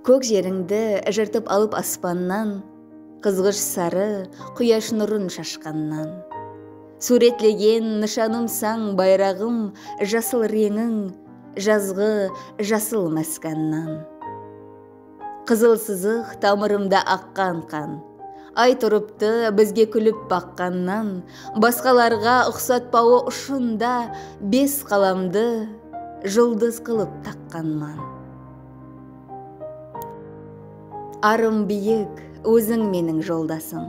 Kók jerińdi jırtıp alıp aspannan, Qızǵısh sarı quyash nurın shashqannan. Súwretlegen nıshanımsań bayraǵım Jasıl reńiń, jazǵı jasıl máskannan. Qızıl sızıq tamırımda aqqan qan. Ay turıptı bizge kúlip baqqannan, Basqalarǵa uqsatpawı ushında Bes qalamdı juldız qılıp taqqanman. Arım biyik, óziń meniń joldasım.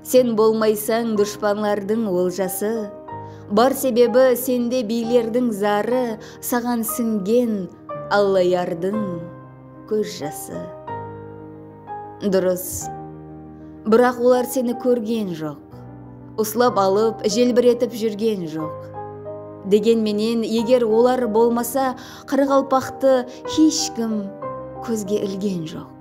Sen bolmaysań dushpanlardıń oljası, Bar sebebi sende biylerdiń zarı, Saǵan sińgen Allayardıń kóz jası. Durıs, biraq olar seni kórgen joq, Uslap alıp, jelbiretip júrgen joq. Degen menen, eger olar bolmasa, Qaraqalpaqtı hesh kim kózge ilgen joq.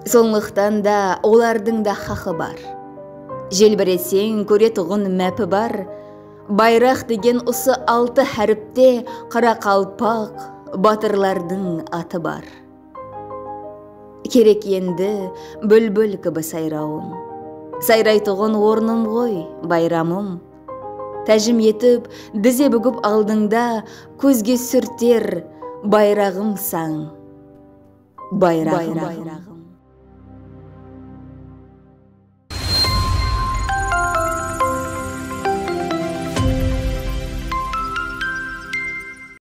Sonlıqtan da olardıń da xaqı bar. Jelbireseń kóretuǵın mápi bar, Bayraq degen usı altı háripte qaraqalpaq batırlardıń atı bar. Kerek endi búlbúl kibi sayrawım, Sayraytuǵın ornım ǵoy bayramım. Tájim etip dize búgip aldıńda kózge súrter bayraǵımsań bayraǵım.